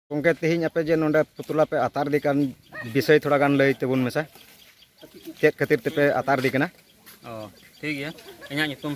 ᱜᱚᱢᱠᱮ ᱛᱮᱦᱮᱧ ᱟᱯᱮ ᱡᱮ ᱱᱚᱰᱮ ᱯᱩᱛᱞᱟ ᱯᱮ ᱟᱛᱟᱨ ᱤᱫᱤ ᱠᱟᱱ ᱵᱤᱥᱚᱭ ᱛᱷᱚᱲᱟ ᱜᱟᱱ ᱞᱟᱹᱭ ᱛᱮᱵᱚᱱ ᱢᱮᱥᱟ ᱪᱮᱫ ᱠᱷᱟᱹᱛᱤᱨ ᱛᱮᱯᱮ ᱟᱛᱟᱨ ᱤᱫᱤ ᱠᱟᱱᱟ ᱚ ᱴᱷᱤᱠ ᱜᱮᱭᱟ ᱤᱧᱟᱹᱜ ᱧᱩᱛᱩᱢ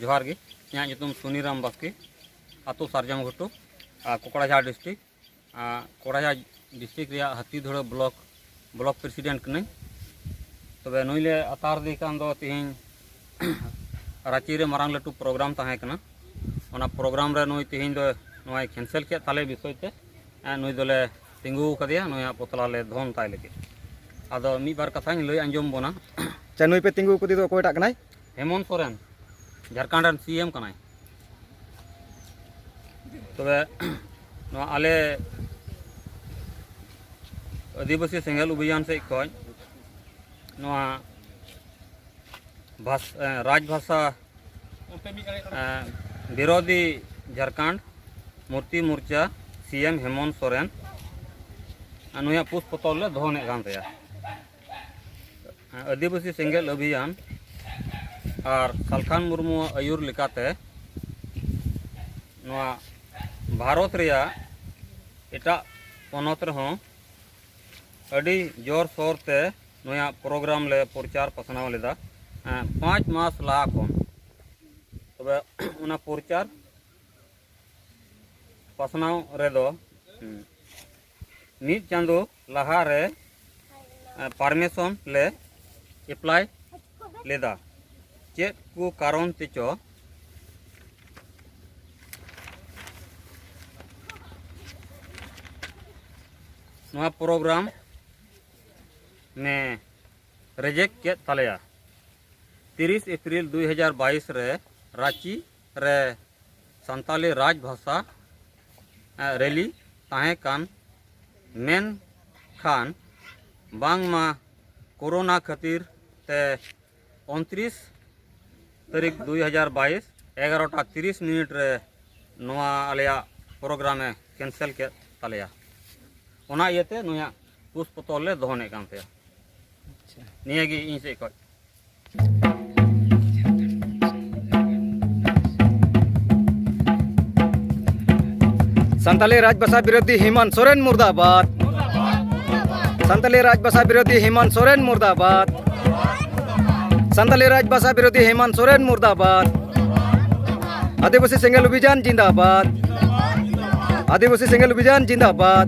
ᱡᱚᱦᱟᱨ ᱜᱮ ᱤᱧᱟᱹᱜ ᱧᱩᱛᱩᱢ ᱥᱩᱱᱤᱨᱟᱢ ᱵᱟᱥᱠᱮ ᱟᱛᱳ ᱥᱟᱨᱡᱚᱢ ᱜᱷᱩᱴᱩ ᱟᱨ ᱠᱚᱠᱲᱟᱡᱷᱟᱲ ᱰᱤᱥᱴᱨᱤᱠ ᱠᱚᱠᱲᱟᱡᱷᱟᱲ ᱰᱤᱥᱴᱨᱤᱠ ᱨᱮᱭᱟᱜ ᱦᱟᱹᱛᱤᱫᱷᱩᱲᱟᱹ ᱵᱞᱚᱠ ᱵᱞᱚᱠ ᱯᱨᱮᱥᱤᱰᱮᱱᱴ ᱠᱟᱹᱱᱟᱹᱧ ᱛᱚᱵᱮ ᱱᱩᱭ ᱞᱮ ᱟᱛᱟᱨ ᱫᱮ ᱠᱟᱱ ᱫᱚ ᱛᱮᱦᱮᱧ ᱨᱟᱺᱪᱤ ᱨᱮ ᱢᱟᱨᱟᱝ ᱞᱟᱹᱴᱩ ᱯᱨᱳᱜᱨᱟᱢ ᱛᱟᱦᱮᱸ ᱠᱟᱱᱟ ᱚᱱᱟ ᱯᱨᱳᱜᱨᱟᱢ ᱨᱮ ᱱᱩᱭ ᱛᱮᱦᱮᱧ ᱫᱚ ᱱᱚᱣᱟᱭ ᱠᱮᱱᱥᱮᱞ ᱠᱮᱫ ᱛᱟᱞᱮ ᱵᱤᱥᱚᱭ ᱛᱮ ᱱᱩᱭ ᱫᱚᱞᱮ ᱛᱤᱸᱜᱩ ᱟᱠᱟᱫᱮᱭᱟ ᱱᱩᱭᱟᱜ ᱯᱚᱛᱞᱟ ᱞᱮ ᱫᱷᱚᱱ ᱛᱟᱭ ᱞᱟᱹᱜᱤᱫ ᱟᱫᱚ ᱢᱤᱫ ᱵᱟᱨ ᱠᱟᱛᱷᱟᱧ ᱞᱟᱹᱭ ᱟᱸᱡᱚᱢ ᱵᱚᱱᱟ ᱟᱪᱪᱷᱟ ᱱᱩᱭ ᱯᱮ ᱛᱤᱸᱜᱩ ᱟᱠᱟᱫᱮ ᱫᱚ ᱚᱠᱚᱭᱴᱟᱜ ᱠᱟᱱᱟᱭ ᱦᱮᱢᱚᱱ ᱥᱚᱨᱮᱱ ᱡᱷᱟᱲᱠᱷᱚᱸᱰ ᱨᱮᱱ ᱥᱤ ᱮᱢ ᱠᱟᱱᱟᱭ ᱛᱚᱵᱮ ᱱᱚᱣᱟ ᱟᱞᱮ ᱟᱹᱫᱤᱵᱟᱹᱥᱤ ᱥᱮᱸᱜᱮᱞ ᱚᱵᱷᱤᱡᱟᱱ ᱥᱮᱫ ᱠᱷᱚᱱ ᱱᱚᱣᱟ ᱵᱷᱟᱥ ᱨᱟᱡᱽ ᱵᱷᱟᱥᱟ ᱵᱤᱨᱳᱫᱷᱤ ᱡᱷᱟᱲᱠᱷᱚᱸᱰ ᱢᱩᱨᱛᱤ ᱢᱳᱨᱪᱟ ᱥᱤ ᱮᱢ ᱦᱮᱢᱚᱱ ᱥᱚᱨᱮᱱ ᱱᱩᱭᱟᱜ ᱯᱩᱥ ᱯᱚᱛᱚᱵ ᱞᱮ ᱫᱚᱦᱚᱱᱮᱫ ᱠᱟᱱ ᱛᱟᱭᱟ ᱟᱹᱫᱤᱵᱟᱹᱥᱤ ᱥᱮᱸᱜᱮᱞ ᱚᱵᱷᱤᱭᱟᱱ ᱟᱨ ᱥᱟᱞᱠᱷᱟᱱ ᱢᱩᱨᱢᱩᱣᱟᱜ ᱟᱹᱭᱩᱨ ᱞᱮᱠᱟᱛᱮ ᱱᱚᱣᱟ ᱵᱷᱟᱨᱚᱛ ᱨᱮᱭᱟᱜ ᱮᱴᱟᱜ ᱯᱚᱱᱚᱛ ᱨᱮᱦᱚᱸ ᱟᱹᱰᱤ ᱡᱳᱨ ᱥᱳᱨ ᱛᱮ ᱱᱚᱣᱟ ᱯᱨᱳᱜᱨᱟᱢ ᱞᱮ ᱯᱨᱚᱪᱟᱨ ᱯᱟᱥᱱᱟᱣ ᱞᱮᱫᱟ ᱯᱟᱸᱪ ᱢᱟᱥ ᱞᱟᱦᱟ ᱠᱷᱚᱱ ᱛᱚᱵᱮ ᱚᱱᱟ ᱯᱨᱚᱪᱟᱨ ᱯᱟᱥᱱᱟᱣ ᱨᱮᱫᱚ ᱢᱤᱫ ᱪᱟᱸᱫᱚ ᱞᱟᱦᱟ ᱨᱮ ᱯᱟᱨᱢᱤᱥᱚᱱ ᱞᱮ ᱮᱯᱞᱟᱭ ᱞᱮᱫᱟ ᱪᱮᱫ ᱠᱚ ᱠᱟᱨᱚᱱ ᱛᱮᱪᱚ ᱱᱚᱣᱟ ᱯᱨᱳᱜᱨᱟᱢ ᱱᱮ ᱨᱮᱡᱮᱠᱴ ᱠᱮᱫ ᱛᱟᱞᱮᱭᱟ ᱛᱤᱨᱤᱥ ᱮᱯᱨᱤᱞ ᱫᱩᱭ ᱦᱟᱡᱟᱨ ᱵᱟᱭᱤᱥ ᱨᱮ ᱨᱟᱺᱪᱤ ᱨᱮ ᱥᱟᱱᱛᱟᱞᱤ ᱨᱟᱡᱽ ᱵᱷᱟᱥᱟ ᱨᱮᱞᱤ ᱛᱟᱦᱮᱸ ᱠᱟᱱ ᱢᱮᱱᱠᱷᱟᱱ ᱵᱟᱝᱢᱟ ᱠᱳᱨᱳᱱᱟ ᱠᱷᱟᱹᱛᱤᱨ ᱛᱮ ᱩᱱᱛᱨᱤᱥ ᱛᱟᱹᱨᱤᱠᱷ ᱫᱩᱭ ᱦᱟᱡᱟᱨ ᱵᱟᱭᱤᱥ ᱮᱜᱟᱨᱚᱴᱟ ᱛᱤᱨᱤᱥ ᱢᱤᱱᱤᱴ ᱨᱮ ᱱᱚᱣᱟ ᱟᱞᱮᱭᱟᱜ ᱯᱨᱳᱜᱨᱟᱢ ᱮ ᱠᱮᱱᱥᱮᱞ ᱠᱮᱫ ᱛᱟᱞᱮᱭᱟ ᱚᱱᱟ ᱤᱭᱟᱹᱛᱮ ᱱᱩᱭᱟᱜ ᱠᱩᱥ ᱯᱚᱛᱚᱨ ᱞᱮ ᱫᱚᱦᱚᱱᱮᱫ ᱠᱟᱱ ᱛᱟᱭᱟ ᱱᱤᱭᱟᱹᱜᱮ ᱤᱧ ᱥᱮᱫ ᱠᱷᱚᱱ ᱥᱟᱱᱛᱟᱞᱤ ᱨᱟᱡᱽ ᱵᱷᱟᱥᱟ ᱵᱤᱨᱳᱫᱷᱤ ᱦᱮᱢᱟᱱ ᱥᱚᱨᱮᱱ ᱢᱩᱨᱫᱟᱵᱟᱫ ᱥᱟᱱᱛᱟᱞᱤ ᱨᱟᱡᱽ ᱵᱷᱟᱥᱟ ᱵᱤᱨᱳᱫᱷᱤ ᱦᱮᱢᱟᱱ ᱥᱚᱨᱮᱱ ᱢᱩᱨᱫᱟᱵᱟᱫ ᱥᱟᱱᱛᱟᱞᱤ ᱨᱟᱡᱽ ᱵᱷᱟᱥᱟ ᱵᱤᱨᱳᱫᱷᱤ ᱦᱮᱢᱟᱱ ᱥᱚᱨᱮᱱ ᱢᱩᱨᱫᱟᱵᱟᱫ ᱟᱹᱫᱤᱵᱟᱹᱥᱤ ᱥᱮᱸᱜᱮᱞ ᱚᱵᱷᱤᱡᱟᱱ ᱡᱤᱱᱫᱟᱵᱟᱫ ᱟᱹᱫᱤᱵᱟᱹᱥᱤ ᱥᱮᱸᱜᱮᱞ ᱚᱵᱷᱤᱡᱟᱱ ᱡᱤᱱᱫᱟᱵᱟᱫ